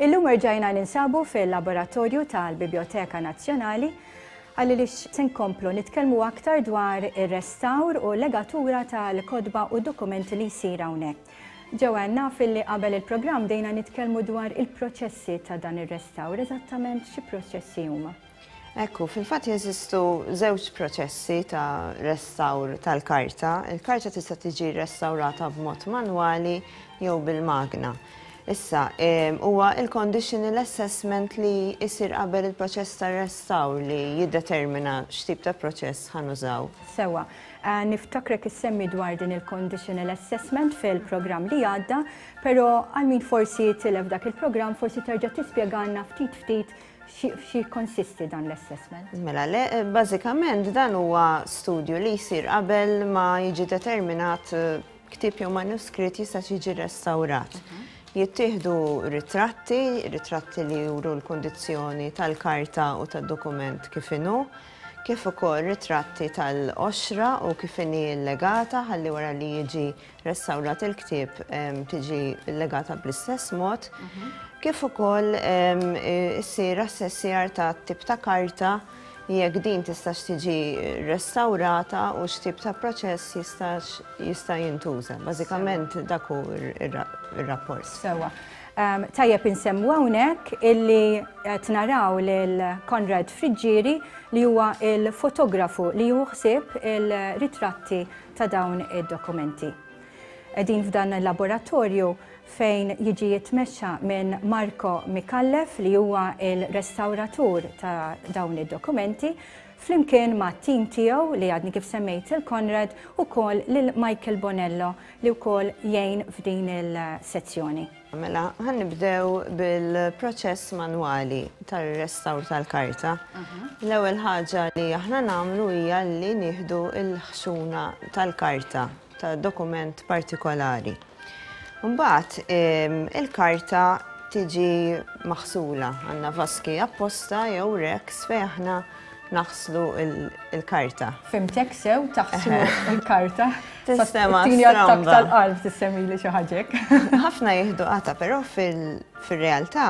Illum erġajna ninsabu fil-laboratorju tal-Biblioteka Nazzjonali għalli li se nkomplu nitkellmu aktar dwar ir-restawr u legatura tal-kodba u dokumenti li jsir hawnhekk. Joanne, naf illi qabel il-programm bdejna nitkellmu dwar il-proċessi ta' dan ir-restawr. Eżattament xi proċessi huma? Ekku, fil-fatt jeżistu żewġ proċessi ta' restawr tal-karta. Il-karta tista' tiġi restawrata b'mod manwali jew bil-magna. Issa, ehm, huwa il-conditional assessment li jsir qabel il-proċess tar-restawr li jiddetermina x'tip ta' proċess ħanużaw. Sewwa, Niftakrek issemmi dwar din il-conditional assessment fil-programm li għadda, pero għal min forsi tilef dak il-programm forsi terġa' tispjegalna ftit ftit xi konsisti dan l-assessment. Mela, le, bażikament dan huwa studju li jsir qabel ma jiġi determinat eh, ktib jew manuskritt jista' jiġi restawrat. Mhm. Jittieħdu ritratti, ritratti li juru l-kondizzjoni tal-karta u tad-dokument kif inhu. kif ukoll ritratti tal-qoxra u kif inhi llegata ħalli wara li jiġi restawrat il-ktieb tiġi llegata bl-istess mod, kif ukoll issir assessjar ta' tip ta' karta jekk din tistax tiġi restawrata u x'tip ta' proċess jista' jintuża. Bażikament dak hu r-rapport. Sewwa. Tajjeb insemmu hawnhekk illi qed naraw lil Konrad Friggieri li huwa l-fotografu li jieħu ħsieb il-ritratti ta' dawn id-dokumenti. Qegħdin f'dan il-laboratorju fejn jiġi jitmexxa minn Marco Micallef li huwa l-restawratur ta' dawn id-dokumenti flimkien mat-tim tiegħu li għadni kif semmejt lil Konrad ukoll lil Michael Bonello li wkoll jgħin f'din il-sezzjoni. Mela, ħa nibdew bil-proċess manwali tar-restawr tal-karta. L-ewwel ħaġa li aħna nagħmlu hija li nieħdu l-ħxuna tal-karta. ta' dokument partikolari. Mbagħad il-karta tiġi maħsula għandna vaski apposta jew reks fejn aħna naħslu il-karta. Fimtek sew taħslu il-karta. Sistema stramba. Tal-qalb tissemi li xi ħaġek. Ħafna jieħdu qata, però fil-realtà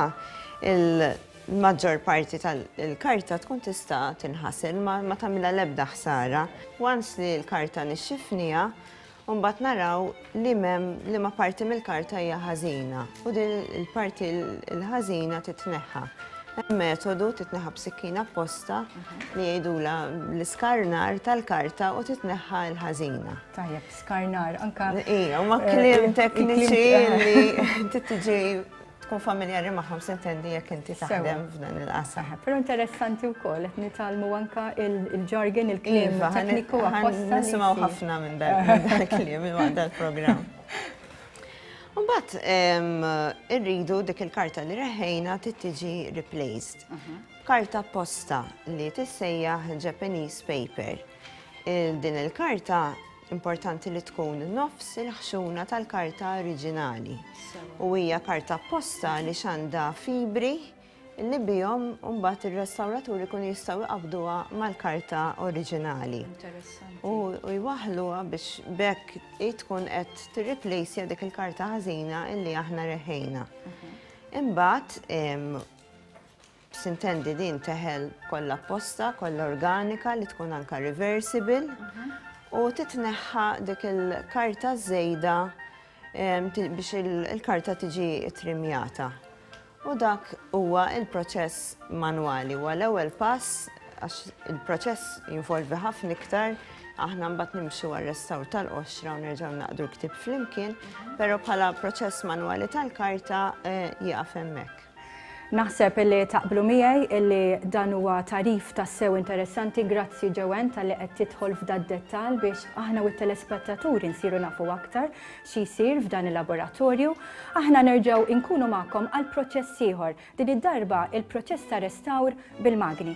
il- l-maġġor parti tal-karta tkun tista' tinħasel ma ma tagħmilha l-ebda ħsara. Once li l-karta nixxifniha, u mbagħad naraw li m'hemm liema parti mill-karta hija ħażina u din il-parti l-ħażina titneħħa. Hemm metodu titneħħa b'sikkina apposta li jgħidula l-iskarnar tal-karta u titneħħa l-ħażina. Tajjeb, skarnar, anka. Ija, ma kliem tekniċi li titġi tkun familjari magħhom sintendi jekk inti taħdem f'dan il-qasam. Però interessanti wkoll qed nitgħallmu anka il-jargon il-kliem iva, tekniku apposta. Nisimgħu ħafna minn dal-kliem il-waqt programm Mbagħad irridu dik il-karta li reħejna tittiġi replaced. Mhm. Karta posta li tissejjaħ Japanese paper. Din il-karta Importanti li tkun nofs il-ħxuna tal-karta oriġinali. U hija karta apposta li xanda fibri li bihom mbagħad ir-restawraturi kun jistgħu jqabduha mal-karta oriġinali. U jwaħluha biex bekk tkun qed tirriplejsja dik il-karta ħażina illi aħna reħejna. Mhm. Imbagħad Sintendi din teħel kollha apposta, kollha organika li tkun anka reversible u titneħħa dik il-karta żejda biex il-karta tiġi trimjata. U dak huwa il-proċess manwali, huwa l-ewwel pass għax il-proċess jinvolvi ħafna iktar aħna mbagħad nimxu għar-restawr tal-qoxra u nerġgħu naqdu l-ktib flimkien, però bħala proċess manwali tal-karta eh, jaqaf hemmhekk. Naħseb illi taqblu miegħi illi dan huwa tagħrif tassew interessanti, grazzi Joanne talli qed tidħol f'da d-dettall biex aħna u t-telespettaturi nsiru nafu aktar xi jsir f'dan il-laboratorju. Aħna nerġgħu inkunu magħkom għal proċess ieħor, din id-darba il-proċess ta' restawr bil-magni.